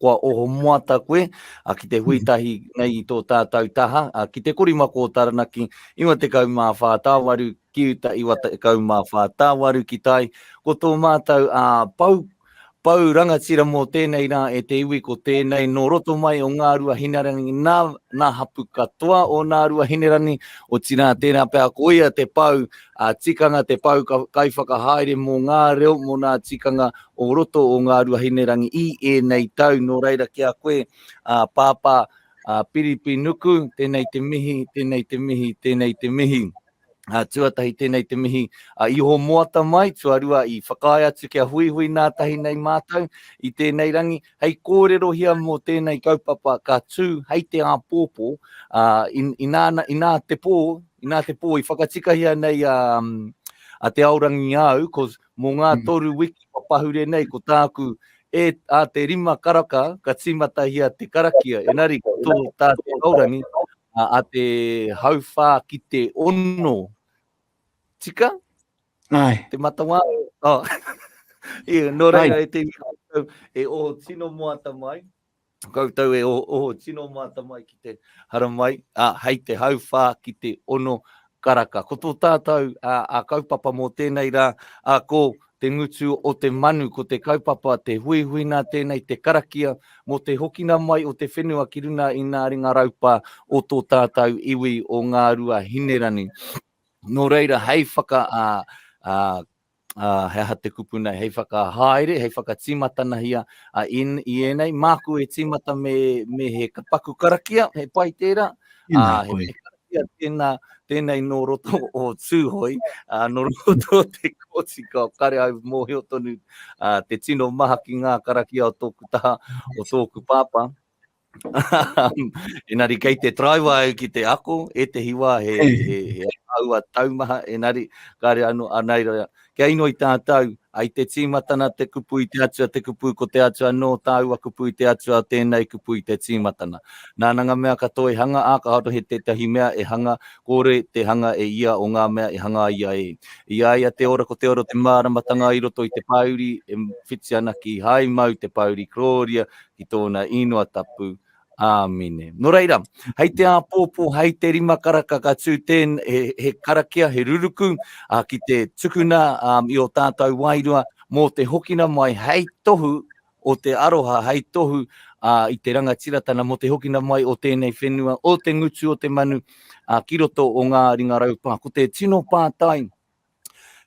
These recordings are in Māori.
kua oho moata koe ki te hui tahi nei i tō tātau taha, ki Te Korimako o Taranaki, 94 tāwaru, ki uta 94 tāwaru ki tai, ko tō mātau pau, pau rangatira mō tēnei rā e te iwi ko tēnei nō roto mai o Ngā Ruahinerangi nā, nā hapu katoa o Nā Ruahinerangi, otirā tērā pea ko ia te pau, a tikanga te pau kaiwhakahaere mō ngā reo mō nā tikanga o roto o Ngā Ruahinerangi i ēnei tau. Nō reira ki a koe, ā, Pāpā, ā, Piripi Nuku, tēnei te mihi, tēnei te mihi, tēnei te mihi. Ā, tuatahi tēnei te mihi a Iho Moata mai, tuarua i whakaae atu kia huihui nā tahi nei mātou i tēnei rangi, hei kōrerohia mō tēnei kaupapa ka tū hei te āpōpō, ā, inā, inā te pō, inā te pō i whakatikahia nei a, a Te Aorangi Āu, 'cause Mō ngā mm. toru wiki kua pahure nei ko tāku e a te rima karaka ka tīmatahia te karakia. Enari, tō tā te aurangi a te hauwhā ki te ono. Tika? Ai. Te matawā. Oh. Ia, nō reira e te wika e o tino moata mai. Koutou e oho tino mata mai ki te haramai, a, hei te hauwha ki te ono karaka. Ko to tatou, a, a kaupapa mo tenei ra, a, ko te ngutu o te manu, ko te kaupapa, te huihuina tenei, te karakia, mo te hokina mai o te whenua ki runa i nga ringa raupa o to tatou iwi o Ngarua Hinerani. No reira, hei whaka, a, a, ā, he aha te kupu nei hei whakahaere, hei whakatīmatanahia i ēnei, māku e tīmata me he paku karakia, he pai tērā, ā, he pai karakia tēnā, tēnei nō roto o Tūhoe, ā, nō roto o te kōti kua kare au mōhio tonu te tino maha ki ngā karakia o tōku taha, o tōku pāpā. Enari kei te traiwa au ki te ako, e te hiwa he, he, he aua taumaha, enari kare anu anai roia. Kia ino i tātou, ai te tīmatana te kupu i te atua, te kupu ko te atua no tāua kupu i te atua, tēnei kupu i te tīmatana. Nāna ngā mea katoa e hanga, ā ka haro he tētahi mea e hanga, kore te hanga e ia o ngā mea e hanga ia e. I a ia te ora ko te ora te māramatanga i roto i te pāuri, e whiti ana ki hai mau te pāuri, krōria, ki tōna īnoa tapu. Āmine. Nō reira, hei te āpōpō, hei te rima karaka ka tū tēn, he, he karakia, he ruruku, ā, ki te tukuna ā, i ō tātou wairua mō te hokina mai hei tohu o te aroha, hei tohu ā, i te rangatiratana mō te hokina mai o tēnei whenua, o te ngutu o te manu ā, ki roto o ngā ringa raupā. Ko te tino pātai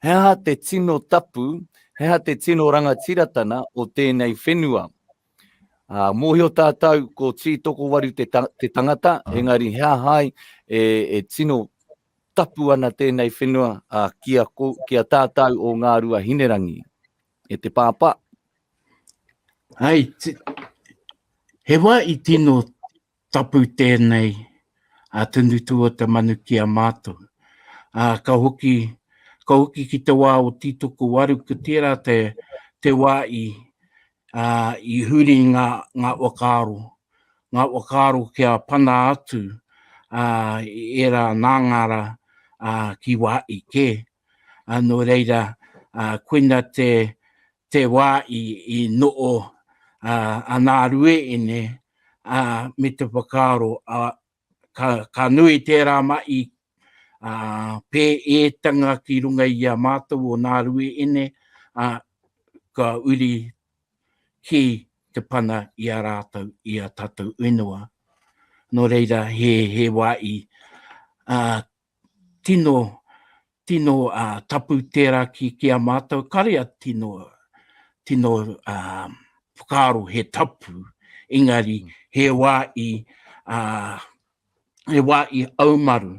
He aha te tino tapu, he aha te tino rangatiratana o tēnei whenua? Uh, mōhio tātou ko Tī Tokowaru te, ta te tangata, ah. engari he aha e, e tino tapu ana tēnei whenua uh, ki, a, ko, ki a tātou o ngā rua hinerangi. E te pāpā. Hai, te, he wā i tino Tapu tēnei a Tunu Tuota Manu ki a mātou, ā, ka hoki, ka hoki ki te wā o Tītokowaru, ko tērā te, te wā i, ā, i huri ngā, ngā whakaaro, ngā whakaaro kia pana atu, ā, ērā nāngara, ā, ki Waa'i kē. Nō reira, koina te wā i noho a Nārue ine me te whakaaro, ka nui tērā mahi pēētanga ki runga i a mātou o Nārue ine, ka uri ki te pana i a rātou, i a tātou ingoa. Nō reira, he wā i tino, tino uh, tapu tērā ki, ki a mātou, karea tino, tino uh, whakaaro he tapu, engari mm. he wā i, uh, he wā i aumaru,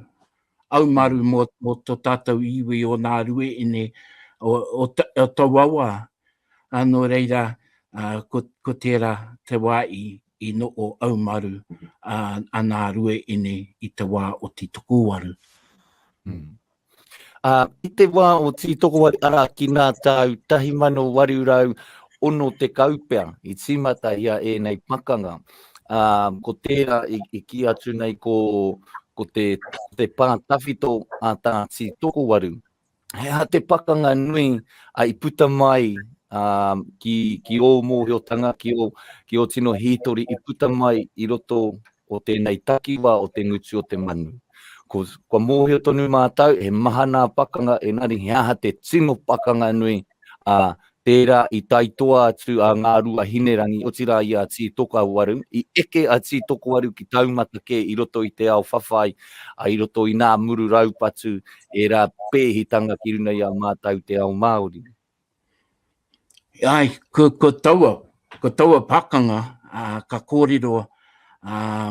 aumaru mō, mō tō tātou iwi o nā rueine, o, o, ta, o tauawa, ā, nō reira, ā, ko, ko tērā te wā i, i noho aumaru, ā, anā rue ine i te wā o Tītokowaru. Mm. Ā, i te wā o Tītokowaru, arā, ki nā tāu 1860 pea i tīmata ia ēnei pakanga, ā, ko tērā i, i ki atu nei ko, ko te, te pā tawhito a tā Tītokowaru, he aha te pakanga nui a i puta mai um, ki, ki ō mōhiotanga, ki ō, ki ō tino hītori i puta mai i roto o tēnei takiwa o te ngutu o te manu. Ko, ko mōhio tonu mātou, he maha nā pakanga, enari he aha te tino pakanga nui ā, tērā i tae toa atu a Ngārua Hinerangi, otirā i a Tītokowaru, i eke a Tītokowaru ki taumata kē i roto i te ao whawhai, ā, i roto i nā muru raupatu, ērā pēhitanga ki runga i a mātau te ao Māori. Āe, ko taua, ko taua pakanga, ā, ka kōrero, ā,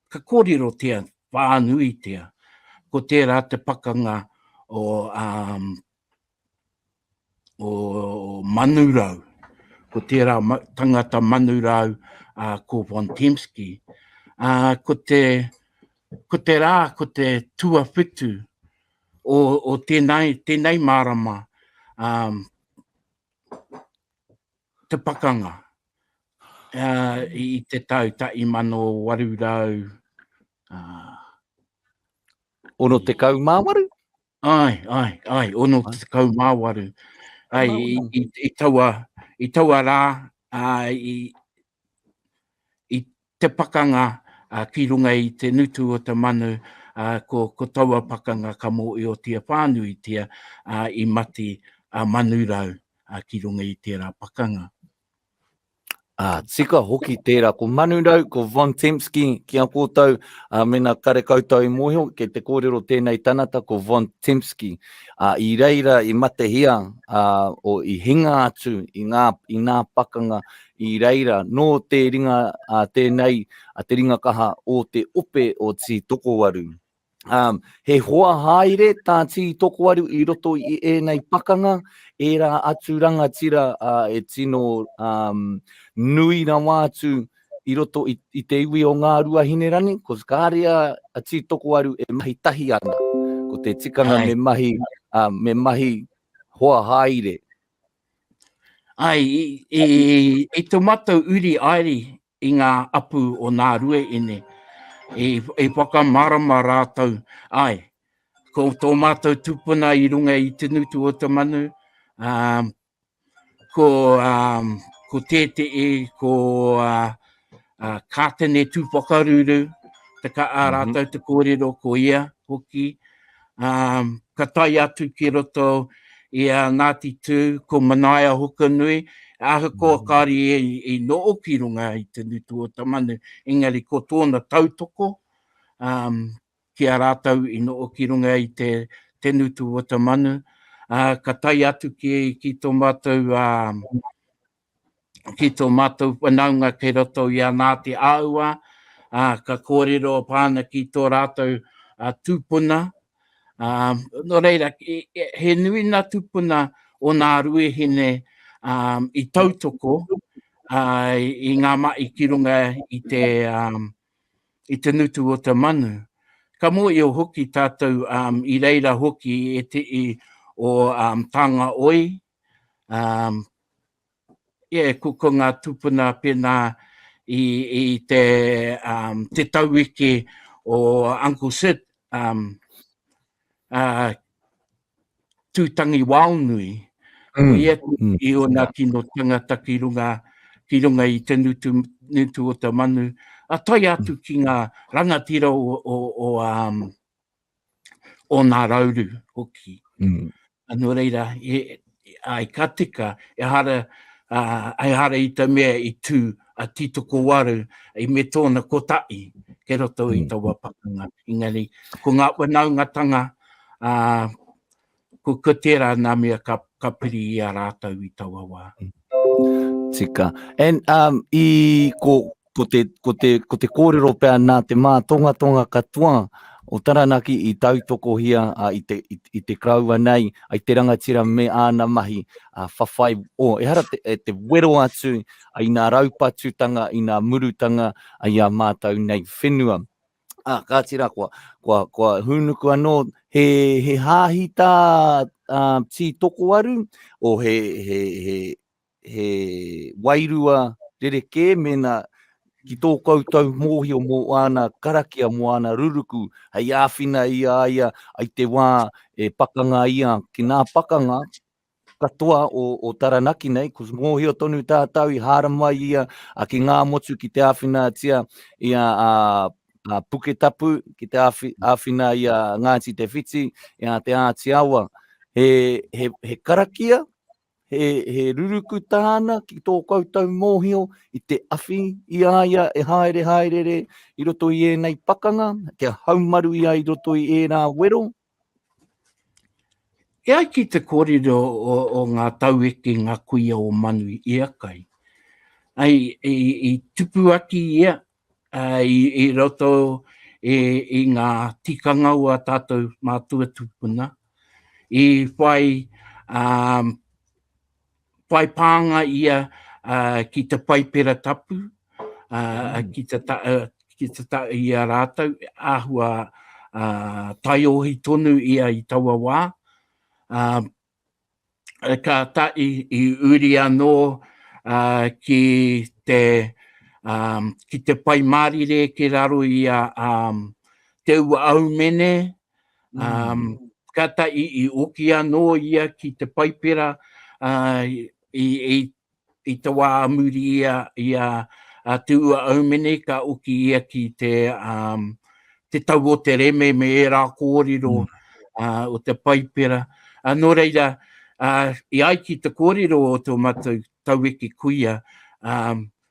ka kōrerotia whānuitia, ko tērā te pakanga o, ā, o Manurau, ko tērā tangata Manurau ko Von Tempsky, ko te ko te rā, ko te tuawhitu o, o tēnei, tēnei mārama, um, te pakanga uh, i te tau ta i mano waru rau. Uh, Ono te kau mā waru? Ai, ai, ai, ono te tekau māwaru. Ai, i, i, i, taua, i taua rā, uh, i, i te pakanga uh, ki runga i te nutu o te manu, uh, ko, ko taua pakanga ka mō i o tia whānui tia uh, i mati a uh, manurau uh, ki runga i tērā pakanga. Ah, tika hoki tērā, ko Manu Rau, ko Von Tempsky, ki a kōtou, uh, mena kare koutou i mōhio, ke te kōrero tēnei tanata, ko Von Tempsky. Uh, I reira, i matehia, uh, o i hinga atu, i ngā, i ngā pakanga, i reira, nō te ringa uh, tēnei, uh, te ringa kaha o te ope o Tītokowaru. Um, he hoa haere tā Tī Tokowaru i roto i ēnei pakanga, ērā atu rangatira uh, e tino um, nui rawa atu i roto i, i te iwi o ngā rua hinerani, ko kāre a, a Tī Tokowaru e mahi tahi ana. Ko te tikanga Ai. me mahi, uh, me mahi hoa haere. Ai, i, i, i te matou uri aeri i ngā apu o nā rueine, i whakamārama rātou, āe, ko tō mātou tūpuna i runga i te ngutu o te manu, ā, ko tētehi, ko Kātene Tūwhakaruru, ā rātou te kōrero ko ia hoki, ka tae atu ki roto i a Ngāti Tū, ko Manaia Hokonui, ahakoa kāre i noho ki runga i te ngutu o Tamanu, engari ko tōna tautoko ki a rātou i noho ki runga i te ngutu o Tamanu, ka tae atu ki tō mātou ki tō mātou whanaunga kei roto i a Ngāti Aua, ā, ka kōrero pā ana ki tō rātou tūpuna. Ā, nō reira, he nui ngā tūpuna o Ngā Ruahine i tautoko i ngā mahi ki runga i te, i te ngutu o te manu. Ka mōhio hoki tātou i reira hoki ētehi o Tāngaoi, Um, yeah, ko, ko ngā tūpuna pēnā i, i te, um, te tauwiki o Uncle Sid, um, uh, tūtangi waonui, mm. o ia mm. i ona tino tangata ki runga, ki runga i te nutu, nutu o te manu, a tai atu mm. ki ngā rangatira o, o, o, um, o nā rauru hoki. Mm. Anō reira, e, e, ai ka tika, e hara, uh, ai hara i ta mea i tū a Titoko Waru i me tōna kotahi ke roto i mm. taua pakanga. Engari, ko ngā wanaungatanga uh, Ko tērā nā mea ka piri i a rātou i taua wā. Tika. And um, i, ko, ko, te, ko, te, ko te kōrero pea nā te mātongatonga katoa o Taranaki i tautokohia a, i, te, i, i te kraua nei, ai te rangatira me āna mahi a whawhai o, oh, ehara te, e te wero atu ai nā raupatutanga, i nā murutanga ai a mātou nei whenua. Ah, ka tira koa, koa, koa hūnuku anō, he, he hāhi tā uh, tī tokoaru, o he, he, he, he wairua rerekē, mena ki tō koutou mōhio mō āna karakia, mō āna ruruku, hei āwhina i a ia, ai te wā e pakanga ia, ki nā pakanga, katoa o Taranaki nei, ko mōhio tonu tātau i hāramai ia ki ngā motu ki te āwhinatia i a Puketapu, ki te āwhina i a Ngāti Te Whiti, i a Te Āti Awa. He karakia, he ruruku tāna ki tō koutou mōhio i te awhi i a ia e haere haerere i roto i ēnei pakanga, kia haumaru ia i roto i ērā wero, E ai ki te kōrero o ngā taueke ngā kuia o Manu i a kai, i tupu atu ia i roto i ngā tikanga o a tātou mātua tūpuna i whai whai pānga ia ki te Paipera Tapu, ki te ki te ta i a rātou, āhua uh, taiohi tonu ia i taua wā. Uh, ka ta i, i uri anō uh, ki te um, ki te pai mārire ki raro i a um, te ua aumene, Um, kata i, i oki anō ia ki te paipera uh, i, i, i te wā muri ia, ia a Tūa Aumene ka oki ia ki te, um, te tau o te reme me e rā kōrero mm. uh, o te paipera. Uh, nō reira, uh, i ai ki te kōrero o tō matou tauwiki kuia, um,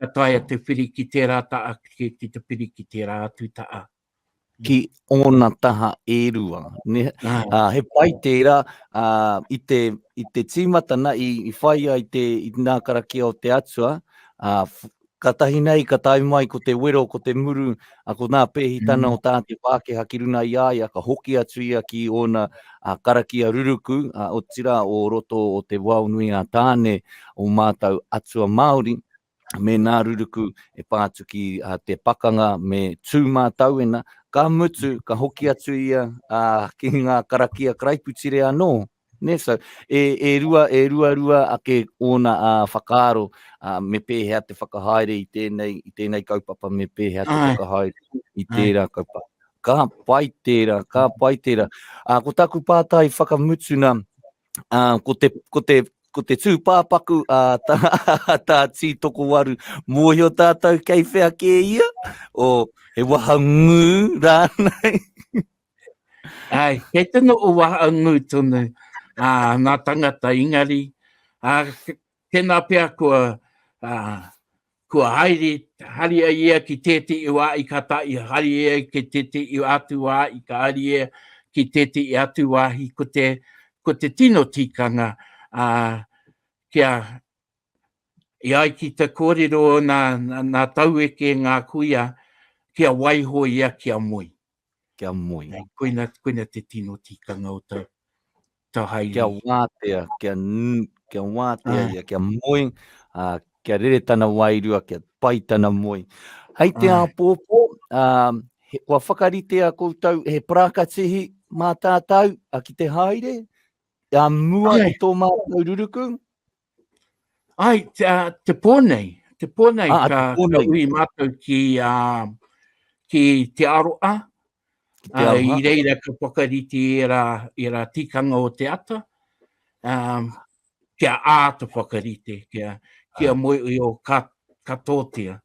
Ka taea te whiri ki tērā taʻa ki te whiri ki tērā atu taʻa. Ki ōna taha e rua. He pai tērā, i te tīmatana i whai ai te nā karakia o te Atua, katahi nei ka tae mai ko te wero, ko te muru, A ko nā Pēhitana o tā te Pākeha ki runa i a ia, ka hoki atu ia ki ōna karakia ruruku, a otira o roto o te wao nui a Tāne o mātau atua Māori, me nā ruruku e pā atu ki te pakanga me tū mātauena, ka mutu, ka hoki atu ia ki ngā karakia karaiputire anō. Nē, so, e, e rua, e rua rua ake ōna a whakaaro, a, me pēhea te whakahaere i tēnei, i tēnei kaupapa, me pēhea te whakahaere i tērā kaupapa. Ka pai tērā, ka pai tērā. A, ko taku pātai whakamutuna, a, ko te, ko te, ko te tūpāpaku a tā, tā Tī Tokowaru, mōhio tātou kei whea kē ia? O, he wahangū rānei? Ai, kei te no o waha ngū tonu a nā tangata ingari, a tēnā pia kua, a, kua haere, hari ai ia ki tēti i wā i ka tae, hari ia ki tēti i atu wā i ka hari ia ki tēti i atu wāhi, ko te, ko te tino tikanga, a, kia, i ai ki te kōrero nā, nā taueke ngā kuia, kia waiho ia kia moe. Kia moe. Koina, koina te tino tikanga o tau, tau haere. Kia watea, kia, kia watea ia, kia moe, a, kia rere tana wairua, kia pai tana moe. Hei te apopo, a, he, kua whakarite a koutou, he parakatihi mā tātou, a ki te haere, a mua i tō mātou ruruku, Ai, te, uh, te pō nei, te pō nei, ah, ka, te pō nei. ka ui mātou ki, uh, ki te aroa, ki te aroa. Uh, i reira ka whakariti e rā, e rā tikanga o te ata, um, kia āta whakarite, kia, kia ah. moe ui o ka, ka tōtia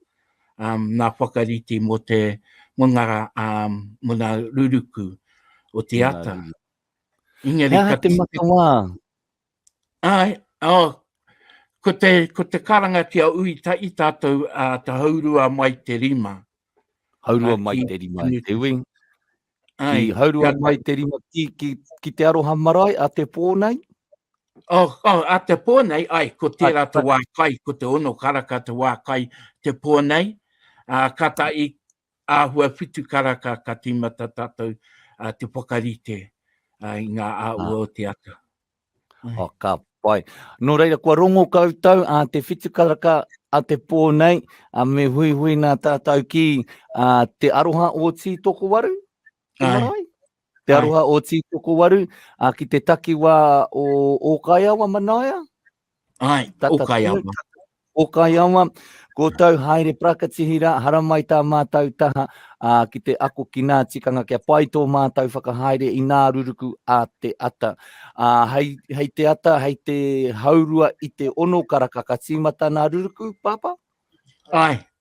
um, nā whakariti mō te mungara um, mō nā ruruku o te ata. Inga rī, ka te matawa, Āe, oh, ko te, ko te karanga ki a Ui ta i tātou a uh, ta haurua mai te rima. Haurua uh, mai ki, te rima i te wing. Ai, ki haurua kia, mai te rima ki, ki, ki te aroha marae a te pō nei? Oh, oh, a te pō nei, ai, ko tērā te wā kai, ko te ono karaka te wā kai te pō nei. Uh, ka ta i, āhua whitu karaka ka tīmata tātou te whakarite i ngā āhua o te ata. Oh, ka pai. Nō reira, kua rongo koutou a te whitu karaka a te pō nei, a me hui hui nā tātou ki a te aroha o Tītoko Waru, ki Marai. Te aroha o Tītoko Waru, a ki te takiwā o Ōkaiawa Manaia, Ai, o kai awa. O kai awa, ko tau haere prakatihi ra, haramai tā mātau taha a, ki te ako ki nā tikanga kia pai tō mātau whakahaere i nā ruruku a te ata. A, hei, hei te ata, hei te haurua i te ono karaka ka tīmata nā ruruku, Pāpā? Ai,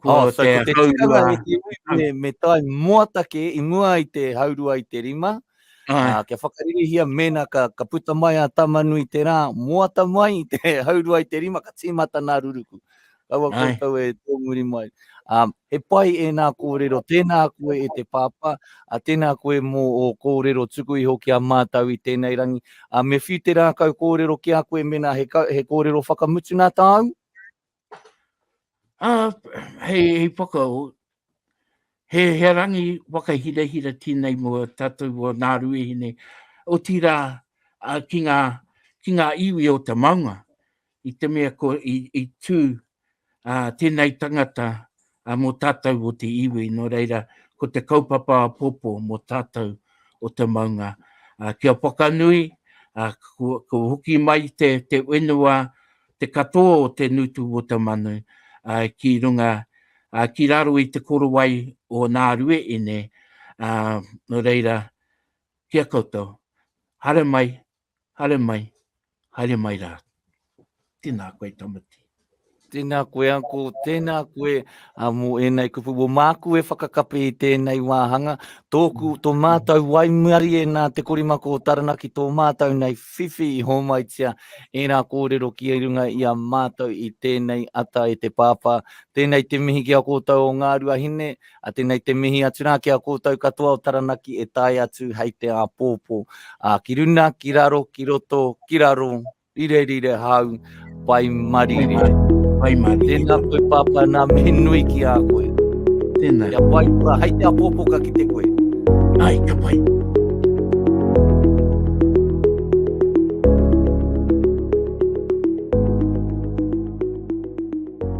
Kua oh, te, te haurua. Me, me tai moatake i mua i te haurua i te rima. Uh, kia whakaririhia mena ka, ka puta mai a Tamanui te rā, moata mai i te haurua i te rima, ka tīmata nā ruruku. Kaua koutou e tōmuri mai. Um, he pai e nā kōrero, tēnā koe e te pāpā, a tēnā koe mō o kōrero tuku iho ki a mātau i tēnei rangi. A me whiu te rākau kōrero ki a koe mena he, he kōrero whakamutu nā tāu? Uh, hei, hei whakao, he, he rangi whakahirahira tēnei mo tātou o nā ruehine, o tīrā uh, ki, ngā, ki ngā iwi o te maunga, i te mea ko i, i tū uh, tēnei tangata ā, mō tātou o te iwi, nō reira, ko te kaupapa apopo mō tātou o te maunga, ā, kia whakanui, ā, kua hoki mai te, te whenua, te katoa o te ngutu o te manu, ā, ki runga, ā, ki raro i te korowai o Ngārue ine, ā, nō reira, ki a koutou, haere mai, Haere mai, haere mai rā. Tēnā koe Tamati. Tēnā koe uncle, tēnā koe uh, mō ēnei kupu. Mō māku e whakakapi i tēnei wāhanga, tōku, tō mātou waimari e nā te korimako o Taranaki, tō mātou nei whiwhi i hōmaitia ērā kōrero ki e runga i a mātou i tēnei ata e te pāpā. Tēnei te mihi ki a kōtou o Ngāruahine, A tenei te mihi atu ra ki a koutou katoa o Taranaki e tae atu hei te apopo. A ki runa, ki raro, ki roto, ki raro, rire rire hau, pai marire. Pai marire. Tena koe papa na mihi nui ki a koe. Tena. Kia pai kura, hei te apopo ka kite koe. Ai, ka pai.